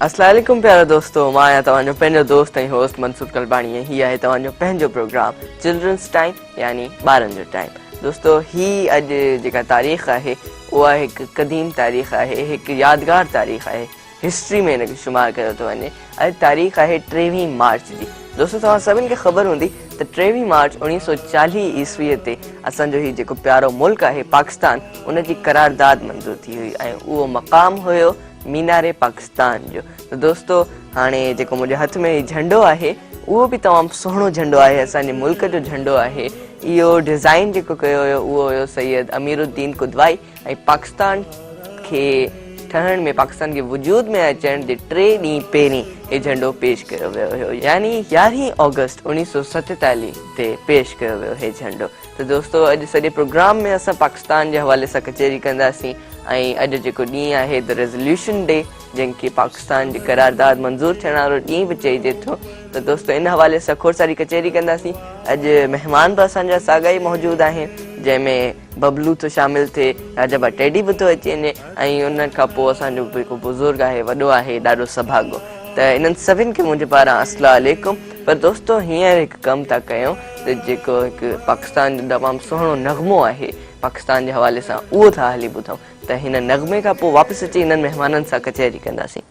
السلام عليڪم پيارا دوستو مان آهيان توهان جو پنهنجو دوست ۽ هوسٽ منصور ڪلباڻي ۽ هي آهي توهان جو پنهنجو پروگرام چلڊرنس ٽائيم يعني ٻارن جو ٽائيم دوستو هي اڄ جيڪا تاريخ آهي اها هڪ قديم تاريخ آهي هڪ يادگار تاريخ آهي هسٽري ۾ ان کي شمار ڪيو ٿو وڃي. اڄ تاريخ آهي ٽيويهين مارچ جي. دوستو توهان سڀني کي خبر هوندي ته ٽيويهين مارچ اڻويهه سؤ چاليهه عيسوي تي اسان جو هي جيڪو پيارو ملڪ آهي پاڪستان ان جي قرارداد منظور ٿي هئي ۽ اهو مقام هيو مينار پاڪستان جو ته دوستو هاڻي جيڪو منهنجي هٿ ۾ هي جهنڊو آهي اهو به تمام سهڻو جهنڊو آهي اسان جي ملڪ جو جهنڊو آهي اهو ڊزائن جيڪو ڪيو هيو اهو هيو سيد امير الدين قدوائي ۽ پاڪستان کي ٺهڻ ۾ پاڪستان کي وجود ۾ اچڻ جي ٽي ڏينهن پهرين هي جهنڊو پيش ڪيو ويو هيو يعني يارهين آگسٽ اڻيهه سؤ ستيتاليهه تي پيش ڪيو ويو هي جهنڊو ته دوستو اڄ سڄي پروگرام ۾ اسان پاڪستان جي حوالي سان ڪچهري ڪنداسين ۽ اڄ جيڪو ڏينهن آهي ته ريزوليوشن ڊي جنهن کي پاڪستان جي قرارداد منظور ٿيڻ وارو ڏينهن به چئجي ٿو ته دوستو ان حوالي سان کوڙ ساري ڪچهري ڪنداسين اڄ مهمان به اسان جا ساڳا ئي موجود آهن جنهن ۾ ببلو ٿو شامل ٿئي راجا ڀا ٽيڊي به ٿو اچي وڃي ۽ ان کان پوء اسان جو هڪ بزرگ آهي وڏو آهي ڏاڍو سڀاڳو ته انهن سڀن کي منهنجي پاران السلام عليڪم پر دوستو هينئر هڪ ڪم ٿا ڪيون ته جيڪو هڪ پاڪستان جو تمام سهڻو نغمو آهي پاڪستان جي حوالي سان اهو ٿا هلي ٻڌون ته هن نغمي کان پوء واپس اچي هنن مهمانن سان ڪچهري ڪنداسين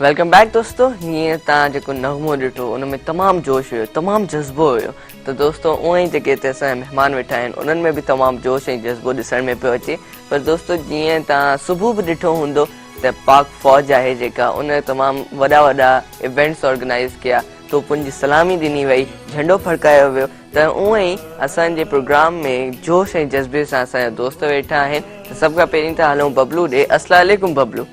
ويلڪم بيڪ دوستو هينئر تان جيڪو نغمو ڏٺو ان ۾ تمام جوش هيو تمام جذبو هيو ته دوستو اوئن ئي جيڪي هتي اسان جا مهمان ويٺا آهن انهن ۾ به تمام جوش ۽ جذبو ڏسڻ ۾ پيو اچي پر دوستو جيئن تان صبح به ڏٺو هوندو ته پاڪ فوج آهي جيڪا ان تمام وڏا وڏا ايونٽس آرگنائز ڪيا توپن جي سلامي ڏني وئي جهنڊو ڦڙڪايو ويو ته اوئن ئي اسان جي پروگرام ۾ جوش ۽ جذبي سان اسان جا دوست ويٺا آهن ته سڀ کان پهرين ته هلون ببلو ڏي السلام عليڪم ببلو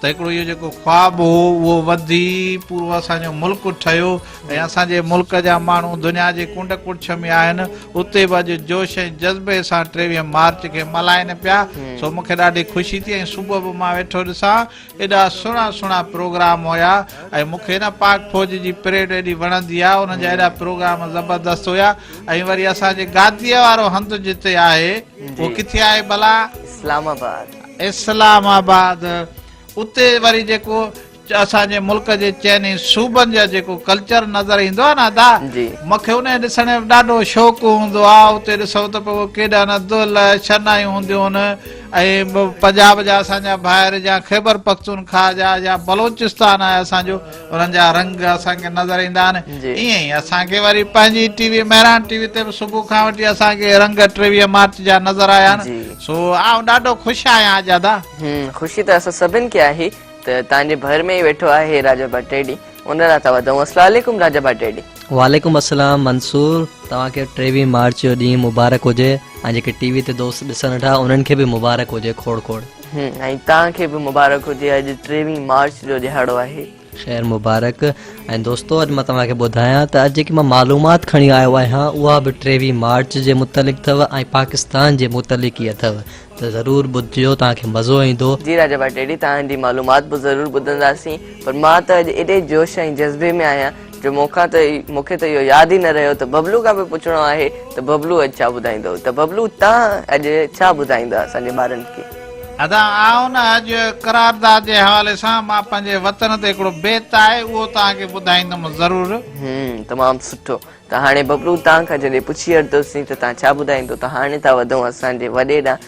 ته هڪڙو اهو جيڪو خواب هو اهو وڌي پورو اسان جو ملڪ ٺهيو ۽ اسان جي ملڪ جا ماڻهو دنيا جي ڪنڊ ڪڙڇ ۾ آهن اتي به اڄ جوش ۽ جذبي سان ٽيويهه مارچ کي ملهائين پيا سو مون کي ڏاڍي خوشي ٿي ۽ صبح به مان ويٺو ڏسان ايڏا سهڻا سهڻا پروگرام هيا ۽ مون کي نه پاڪ فوج جي پريڊ ايڏي وڻندي آهي انهن جا ايڏا پروگرام زبردست هيا ۽ وري اسان جي گاديء وارو هنڌ جتي آهي اهو ڪٿي آهي ڀلا؟ اسلام آباد. اسلام آباد اتي وري جيڪو اسان جي ملڪ جي چئني صوبن جا جيڪو ڪلچر نظر ايندو آ نا ادا مونکي انهي ڏسڻ جو ڏاڍو شوق هوندو آ اتي ڏسو ته پوء ڪيڏا نه دل شنائيون هونديون ان ۽ پنجاب جا اسان جا ڀائر جا خيبر پختونخواه جا يا بلوچستان آهي اسان جو انهن جا رنگ اسان کي نظر ايندا آهن ايئن ئي اسان کي وري پنهنجي T V Mehran T V تي به صبح کان وٺي اسان کي رنگ ٽيويهه مارچ جا نظر آيا آهن سو آئون ڏاڍو خوش آهيان اجادا خوشي ته اسان سڀن کي آهي ته تان جي ڀر ۾ ئي ويٺو آهي راجا ڀٽيڊي ان لاء ٿا وڌائون السلام عليڪم راجا ڀٽيڊي وعليڪم السلام منصور توهان کي ٽيويهه مارچ جو ڏينهن مبارڪ هجي ۽ جيڪي ٽي وي تي دوست ڏسن ٿا انهن کي به مبارڪ هجي کوڙ کوڙ ۽ توهان کي به مبارڪ هجي اڄ ٽيوي مارچ جو ڏهاڙو آهي. خير مبارڪ ۽ دوستو اڄ مان توهان کي ٻڌايان ته اڄ جيڪي مان معلومات کڻي آيو آهيان اها به ٽيوي مارچ جي متعلق اٿو ۽ پاڪستان جي متعلق ئي اٿو ته ضرور ٻڌجو توهان کي مزو ايندو. جي راجا ڀٽيڙي توهان جي معلومات به ضرور ٻڌنداسين پر مان ته اڄ ايڏي جوش ۽ جذبي ۾ آهيان جو مون کان ته مون کي ته اهو ياد ئي نه رهيو ته ببلو کان به پڇڻو آهي ته ببلو اڄ ڇا ٻڌائيندو ته ببلو تان اڄ ڇا ٻڌائيندا اسان جي ٻارن کي. ادا آئون نه اڄ قرارداد جي حوالي سان مان پنهنجي وطن تي هڪڙو بيت آهي اهو توهان کي ٻڌائيندم ضرور. هم تمام سٺو ته هاڻي ببلو تان کان جڏهن پڇي ورتوسين ته تان ڇا ٻڌائيندو ته هاڻي ٿا وڌون اسان جي وڏي ڏانهن.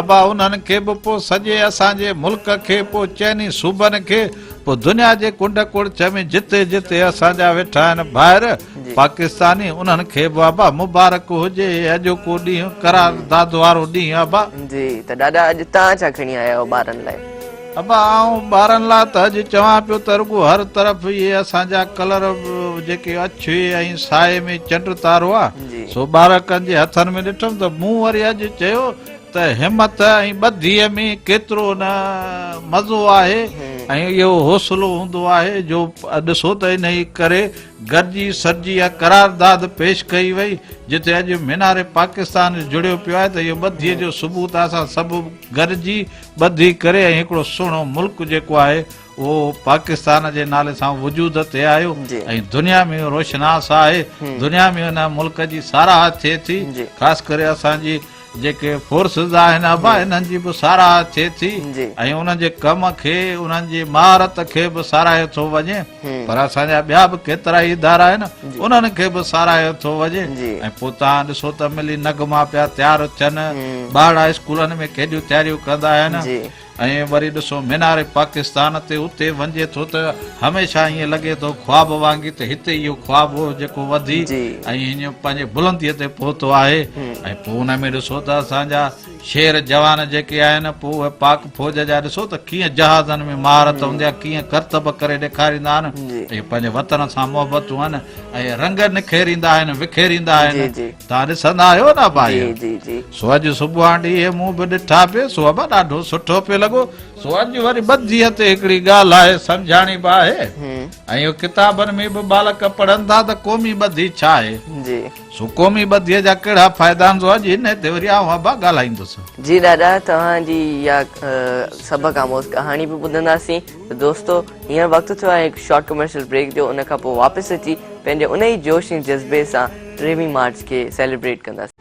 ابا انهن کي به پو سڄي اسان جي ملڪ کي پو چئني صوبن کي پو دنيا جي ڪنڊ ڪڙڇ ۾ جتي جتي اسان جا ويٺا آهن ڀائر پاڪستاني انهن کي به ابا مبارڪ هجي اڄوڪو ڏينهن قرار داد وارو ڏينهن ابا جي ته ڏاڏا اڄ تان ڇا کڻي آيا آهيو ٻارن لاء. ابا آئون ٻارن لا ته اڄ چوان پيو ته رڳو هر طرف اهي اسان جا ڪلر جيڪي اڇي ۽ سائي ۾ چنڊ تارو آ سو ٻارڪن جي هٿن ۾ ڏٺم ته مون وري اڄ چيو ته همٿ ۽ ٻڌيء ۾ ڪيترو نه مزو آهي ۽ اهو حوصلو هوندو آهي جو ڏسو ته انهي ڪري گڏجي سڏجي اها قرارداد پيش ڪئي وئي جتي اڄ مينار پاڪستان جڙيو پيو آهي ته اهو ٻڌيء جو ثبوت آهي اسان سڀ گڏجي ٻڌي ڪري ۽ هڪڙو سهڻو ملڪ جيڪو آهي اهو پاڪستان جي نالي سان وجود تي آيو ۽ دنيا ۾ روشناس آهي دنيا ۾ ان ملڪ جي ساراهه ٿئي ٿي خاص ڪري اسان جي جيڪي فورسز آهن ابا انهن جي به ساراهه ٿئي ٿي ۽ انهن جي ڪم کي انهن جي مهارت کي به ساراهيو ٿو وڃي پر اسان جا ٻيا به ڪيترائي ادارا آهن انهن کي به ساراهيو ٿو وڃي ۽ پوء توهان ڏسو ته ملي نغما پيا تيار ٿين ٻارڙا اسڪولن ۾ ڪيڏيون تياريون ڪندا آهن ۽ وري ڏسو مينار پاڪستان تي اتي وڃجي ٿو ته هميشه ائين لڳي ٿو خواب وانگي ته هتي اهو خواب هو جيڪو وڌي ۽ هينئر پنهنجي بلنديء تي پهتو آهي ۽ پوء ان ۾ ڏسو ته اسان جا شير جوان جيڪي آهن پوء اهي پاڪ فوج جا ڏسو ته ڪيئن جهازن ۾ مهارت هوندي آهي ڪيئن ڪرتب ڪري ڏيکاريندا آهن اهي پنهنجي وطن سان محبتون آهن ۽ رنگ نکيريندا آهن وکيريندا آهن توهان ڏسندا آهيو نه ڀائيو سو اڄ صبحان ڏينهن مون به ڏٺا پي سو به ڏاڍو سٺو پي لڳو سو اڄ وري ٻڌي تي هڪڙي ڳالهه آهي سمجهاڻي به آهي ۽ اهو ڪتابن ۾ به ٻالڪ پڙهن ٿا ته قومي ٻڌي ڇا آهي سو قومي ٻڌيء جا ڪهڙا فائدا آهن سو اڄ هن تي وري آئون ابا ڳالهائيندس. جي ڏاڏا توهان جي اها سڀ کان موز ڪهاڻي به ٻڌنداسين ته دوستو هينئر وقت ٿيو آهي هڪ شارٽ ڪمرشل بريڪ جو ان کانپوء واپس اچي پنهنجي ان ئي جوش ۽ جذبي سان ٽيهوين مارچ کي سيليبريٽ ڪنداسين.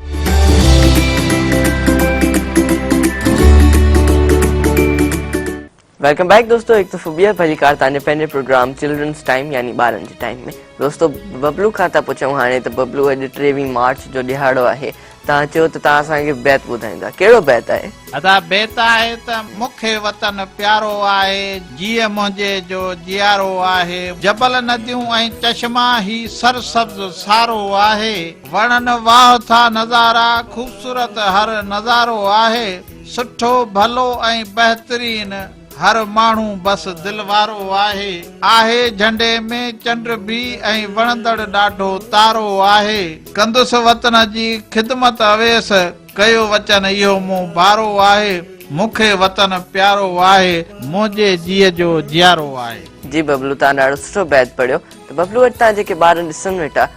ويلڪم بيڪ دوستو هڪ دفعو ٻيهر ڀلي ڪار تانجي پنهنجي پروگرام چلڊرنس ٽائيم يعني ٻارن جي ٽائيم ۾ دوستو ببلو کان ٿا پڇون هاڻي ته ببلو اڄ ٽيويهين مارچ جو ڏهاڙو آهي تان چيو ته تان اسان کي بيت ٻڌائيندا ڪهڙو بيت آهي ادا بيت آهي ته مون کي وطن پيارو آهي جيء منهنجي جو جيارو آهي جبل نديون ۽ چشما هي سر سبز سارو آهي وڻن واهه ٿا نظارا خوبصورت هر نظارو آهي سٺو ڀلو ۽ بهترين هر ماڻهو بس دل وارو آهي. آهي جهنڊي ۾ چنڊ به ۽ وڻندڙ ڏاڍو تارو آهي. ڪندس وطن جي خدمت اويس ڪيو وچن اهو مون بارو آهي. مون کي وطن پيارو آهي منهنجي جيء جو جيارو آهي. جي ببلو تان ڏاڙهو سٺو بيت پڙهيو ته ببلو اڄ تان جيڪي ٻارن ڏسن ويٺا.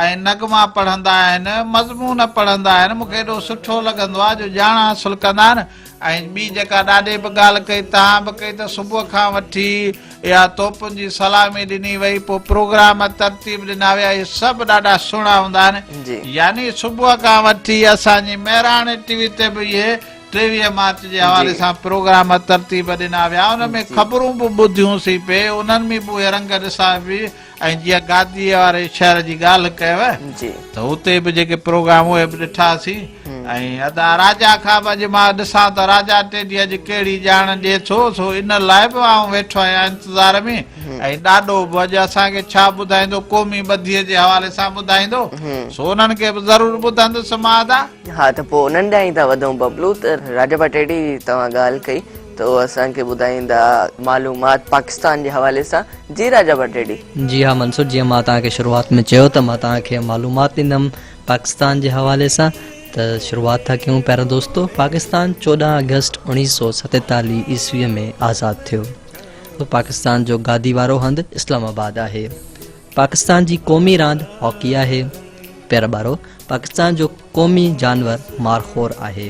۽ نغما پڙهندا آهن، مضمون پڙهندا آهن، مون کي ايڏو سٺو لڳندو آهي جو ڄاڻ حاصل ڪندا آهن ۽ ٻي جيڪا ڏاڏي به ڳالهه ڪئي توهان به ڪئي ته صبح کان وٺي اها توپن جي سلامي ڏني وئي پوء پروگرام ترتيب ڏنا ويا اهي سڀ ڏاڍا سهڻا هوندا آهن يعني صبح کان وٺي اسان جي مهراڻي ٽي وي تي به اهي ٽيويهه مارچ جي حوالي سان پروگرام ترتيب ڏنا ويا ان ۾ خبرون به ٻڌيون سين پي انهن ۾ به اهي رنگ ڏسا پي ۽ جيئن گاديء واري شهر جي ڳالهه ڪيو ته اتي به جيڪي پروگرام اهي به ڏٺاسين ۽ ادا راجا کان به اڄ مان ڏسان ته راجا ٽيڊي اڄ ڪهڙي ڄاڻ ڏئي ٿو سو ان لاء به آئون ويٺو آهيان انتظار ۾ ۽ ڏاڏو به اڄ اسان کي ڇا ٻڌائيندو قومي ٻڌيء جي حوالي سان ٻڌائيندو سو انهن کي به ضرور ٻڌندس مان ادا ها ته پوء انهن ڏانهن ئي ٿا وڌون ببلو ته راجا ڀٽيڊي توهان ڳالهه ڪئي ته هو اسان کي ٻڌائيندا. معلومات پاڪستان جي حوالي سان جي راجا ڀٽيڏي. جي ها منصور جيئن مان توهان کي شروعات ۾ چيو ته مان توهان کي معلومات ڏيندم پاڪستان جي حوالي سان ته شروعات ٿا ڪيون پيارا دوستو پاڪستان چوڏهن آگسٽ اوڻيهه سو ستيتاليهه عيسوي ۾ آزاد ٿيو پاڪستان جو گادي وارو هنڌ اسلام آباد آهي. پاڪستان جي قومي راند هاڪي آهي. پيرٻارو پاڪستان جو قومي جانور مارخور آهي.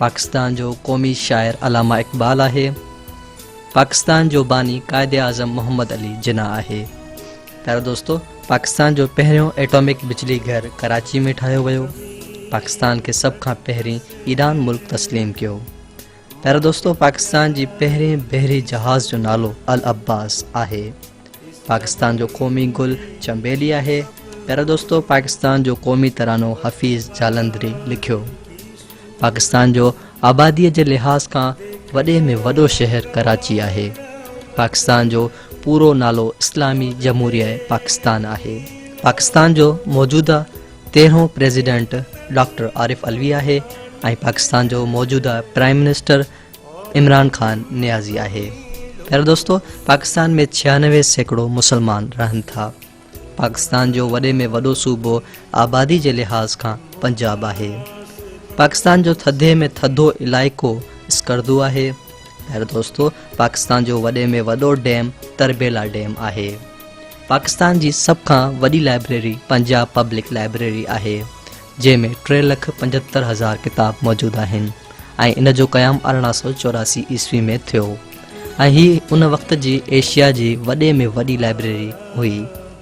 پاڪستان جو قومي شاعر علامه اقبال آهي. پاڪستان جو باني قائد اعظم محمد علي جناح آهي. پيارا دوستو پاڪستان جو پهريون ايٽامڪ بجلي گهر ڪراچي ۾ ٺاهيو ويو. پاڪستان کي سڀ کان پهرين ايران ملڪ تسليم ڪيو. پيارا دوستو پاڪستان جي پهرين بحري جهاز جو نالو العباس آهي پاڪستان جو قومي گل چنبيلي آهي پيارا دوستو پاڪستان جو قومي ترانو حفيظ جالندري لکيو پاڪستان جو آبادي جي لحاظ کان وڏي ۾ وڏو شهر ڪراچي آهي پاڪستان جو پورو نالو اسلامي جمهوريه پاڪستان آهي پاڪستان جو موجوده تيرهون پريزيڊنٽ ڊاڪٽر عارف علوي آهي ۽ پاڪستان جو موجوده پرائم منسٽر عمران خان نيازي آهي پيارا دوستو پاڪستان ۾ ڇيانوي سيڪڙو مسلمان رهن ٿا پاڪستان جو وڏي ۾ وڏو صوبو آبادي جي لحاظ کان پنجاب آهي پاڪستان جو ٿڌي ۾ ٿڌو علائقو اسڪردو آهي پيارا دوستو پاڪستان جو وڏي ۾ وڏو ڊيم تربيلا ڊيم آهي پاڪستان جي سڀ کان وڏي لائبريري پنجاب پبلڪ لائبريري آهي، جنهن ۾ ٽي لک پنجهتر هزار ڪتاب موجود آهن ۽ ان جو قيام ارڙهن سؤ چوراسي عيسوي ۾ ٿيو ۽ هي ان وقت جي ايشيا جي وڏي ۾ وڏي لائبريري هئي.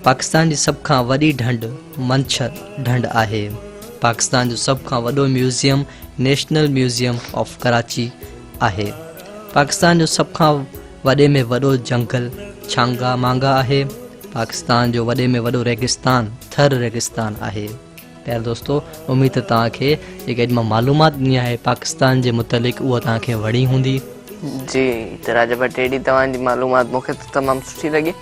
پاڪستان جي سڀ کان وڏي ڍنڍ منڇر ڍنڍ آهي. پاڪستان جو سڀ کان وڏو museum national museum of Karachi, آهي. پاڪستان جو سڀ کان وڏي ۾ وڏو جهنگل ڇانگا مانگا آهي. پاڪستان جو وڏي ۾ وڏو ريگستان ٿر ريگستان آهي. پيار دوستو اميد ته توهان کي جيڪي اڄ مان معلومات ڏني آهي پاڪستان جي متعلق اها توهان کي وڻي هوندي. جي ته راجا ڀٽ اهڙي توهان جي معلومات مون کي ته تمام سٺي لڳي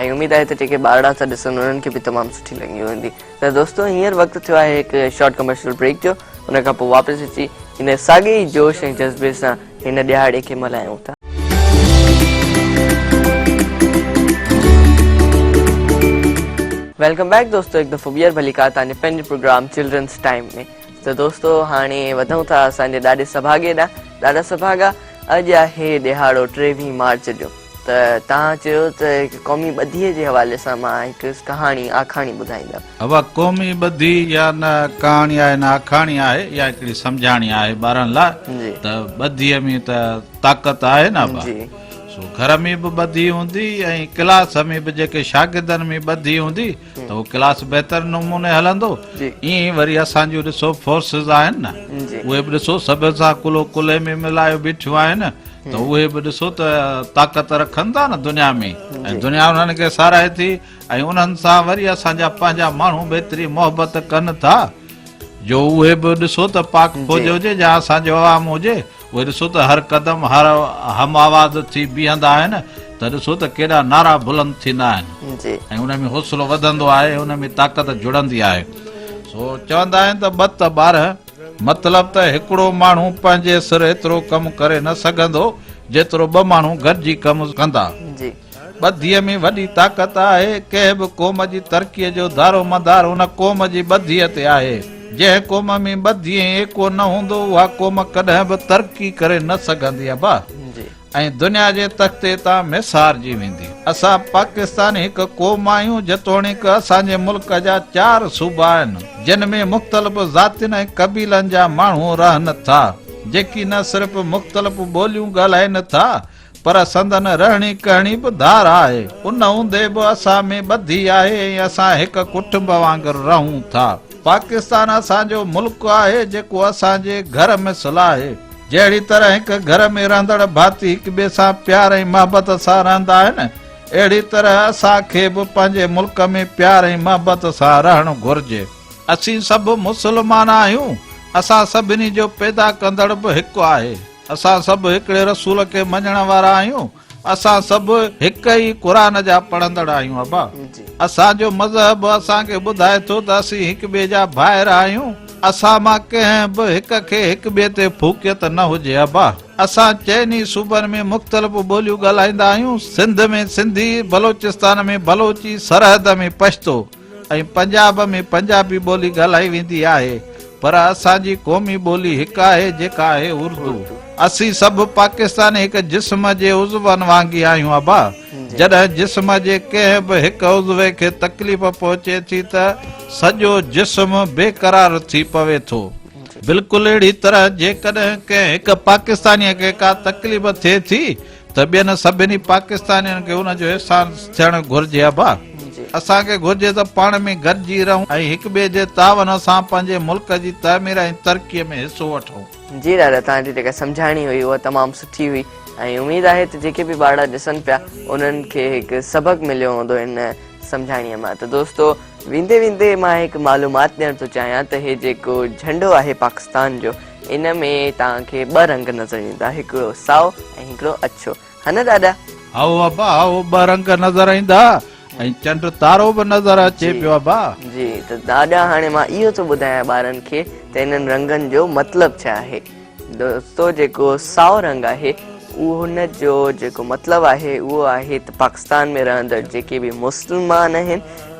۽ اميد آهي ته جيڪي ٻارڙا ٿا ڏسن انهن کي به تمام سٺي لڳي هوندي. ته دوستو هينئر وقت ٿيو آهي هڪ شارٽ ڪمرشل بريڪ جو ان کان پوء واپس اچي هن ساڳي ئي جوش ۽ جذبي سان هن ڏهاڙي کي ملهايون ٿا. ويلڪم بيڪ دوستو هڪ دفعو ٻيهر ڀلي ڪا تان جي پنهنجي پروگرام چلڊرنس ٽائيم ۾ ته دوستو هاڻي وڌون ٿا اسان جي ڏاڏي سڀاڳي ڏانهن ڏاڏا سڀاڳا اڄ آهي ڏهاڙو ٽيويهين مارچ جو ته توهان چيو ته هڪ قومي ٻڌيء جي حوالي سان مان هڪ ڪهاڻي، آکاڻي ٻڌائيندم. اها قومي ٻڌي يا نه ڪهاڻي آهي نه آکاڻي آهي يا هڪڙي سمجهاڻي آهي ٻارن لاء ته ٻڌيء ۾ ته طاقت آهي نه ابا. سو گهر ۾ به ٻڌي هوندي ۽ ڪلاس ۾ به جيڪي شاگردن ۾ ٻڌي هوندي ته اهو ڪلاس بهتر نموني هلندو ائين ئي وري اسان جون ڏسو فورسز آهن نه اهي به ڏسو سڀ سان ڪلهو ڪلهي ۾ ملائي بيٺيون آهن ته اهي به ڏسو ته طاقت رکن ٿا نه دنيا ۾ ۽ دنيا انهن کي ساراهي ٿي ۽ انهن سان وري اسان جا پنهنجا ماڻهو به ايتري محبت ڪن ٿا جو اهي به ڏسو ته پاڪ فوج هجي يا اسان جو عوام هجي پوء ڏسو ته هر قدم هر هم آواز ٿي بيهندا آهن ته ڏسو ته ڪيڏا نعرا بلند ٿيندا آهن ۽ ان ۾ حوصلو وڌندو آهي ان ۾ طاقت جڙندي آهي سو چوندا آهن ته ٻه ته ٻارهن مطلب ته هڪڙو ماڻهو پنهنجي سر ايترو ڪم ڪري نه سگهندو جيترو ٻه ماڻهو گڏجي ڪم ڪندا ٻڌيء ۾ وڏي طاقت آهي، ڪنهن به قوم جي ترقيء جو دارومدار ان قوم جي ٻڌيء تي آهي، جنهن قوم ۾ ٻڌي ۽ ايڪو نه هوندو اها قوم ڪڏهن به ترقي ڪري نه سگهندي ابا ۽ دنيا جي تختي تان ميسارجي ويندي. اسان پاڪستاني هڪ قوم آهيون، جيتوڻيڪ اسان جي ملڪ جا چار صوبا آهن، جن ۾ مختلف ذاتين ۽ قبيلن جا ماڻهو رهن ٿا، جيڪي نه صرف مختلف ٻوليون ڳالهائين ٿا پر سندن رهڻي ڪهڻي به ڌار آهي، ان هوندي به اسان ۾ ٻڌي آهي ۽ اسان هڪ ڪٽنب وانگر رهون ٿا. پاڪستان اسان جو ملڪ آهي، جيڪو اسان جي گهر مثل آهي. جهڙي طرح هڪ گهر ۾ رهندڙ ڀاتي هڪ ٻئي سان پيار ۽ محبت سان رهندا آهن، اهڙي طرح اسان کي به پنهنجي ملڪ ۾ پيار ۽ محبت سان رهڻ گهرجي. اسين سڀ مسلمان آهيون، اسان سڀني جو پيدا ڪندڙ به هڪ آهي. اسان سڀ هڪڙي رسول کي مڃڻ وارا آهيون اسان سڀ هڪ ئي قرآن جا پڙهندڙ آهيون ابا اسان جو مذهب اسان کي ٻڌائي ٿو ته اسين هڪ ٻئي جا ڀائر آهيون اسان مان ڪنهن به هڪ کي هڪ ٻئي تي ڦوڪيت نه هجي ابا اسان چئن ئي صوبن ۾ مختلف ٻوليون ڳالهائيندا آهيون سنڌ ۾ سنڌي بلوچستان ۾ بلوچي سرحد ۾ پشتو ۽ پنجاب ۾ پنجابي ٻولي ڳالهائي ويندي آهي پر اسان جي قومي ٻولي هڪ آهي جيڪا آهي اردو. اسين سڀ پاڪستاني هڪ جسم جي عضون وانگي آهيون ابا جڏهن جسم جي ڪنهن به هڪ عضوي کي تڪليف پهچي ٿي ته سڄو جسم بي قرار ٿي پوي ٿو بلڪل اهڙي طرح جيڪڏهن ڪنهن هڪ پاڪستاني کي ڪا تڪليف ٿئي ٿي ته ٻين سڀني پاڪستانين کي ان جو احساس ٿيڻ گهرجي ابا اسان کي گهرجي ته پاڻ ۾ گڏجي رهون ۽ هڪ ٻئي جي تعاون سان پنهنجي ملڪ جي تعمير ۽ ترقي ۾ حصو وٺون. جي دادا توهان جي جيڪا سمجهاڻي هئي اها تمام سٺي هئي ۽ اميد آهي ته جيڪي به ٻارڙا ڏسن پيا انهن کي هڪ سبق مليو هوندو ان سمجهاڻي مان ته دوستو ويندي ويندي مان هڪ معلومات ڏيڻ ٿو چاهيان ته هي جيڪو جهنڊو آهي پاڪستان جو ان ۾ توهان کي ٻه رنگ نظر ايندا هڪڙو سائو ۽ هڪڙو اڇو ها نه ڏاڏا؟ هائو ابا هائو ٻه رنگ نظر ايندا ۽ چنڊ تارو به نظر اچي پيو ابا. جي ته ڏاڏا هاڻي مان اهو ٿو ٻڌايان ٻارن کي ته انهن رنگن جو مطلب ڇا آهي دوستو جيڪو سائو رنگ آهي ان جو جيڪو مطلب آهي اهو آهي ته پاڪستان ۾ رهندڙ جيڪي به مسلمان آهن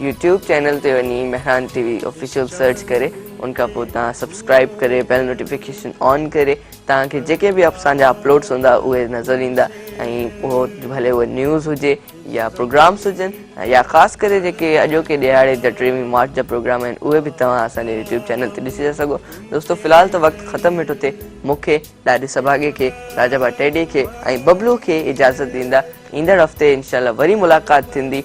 يوٽيوب چينل تي وڃي Mehran T V official search ڪري ان کان پوء تان سبسڪرائب ڪري بيل نوٽيفڪيشن آن ڪري تان کي جيڪي به اسان جا اپلوڊز هوندا اهي نظر ايندا ۽ اهو ڀلي هو نيوز هجي يا پروگرامز هجن يا خاص ڪري جيڪي اڄو کي ڏيهاڙي جا ٽيوي مارچ جا پروگرام آهن اهي به توهان اسان جي يوٽيوب چينل تي ڏسي ٿا سگهو دوستو في الحال ته وقت ختم مٺو ٿي مون کي ڏاڏي سڀاڳي کي راجا با ٽيڊي کي ۽ ببلو کي اجازت ڏيندا ايندڙ هفتي انشاء الله وري ملاقات ٿيندي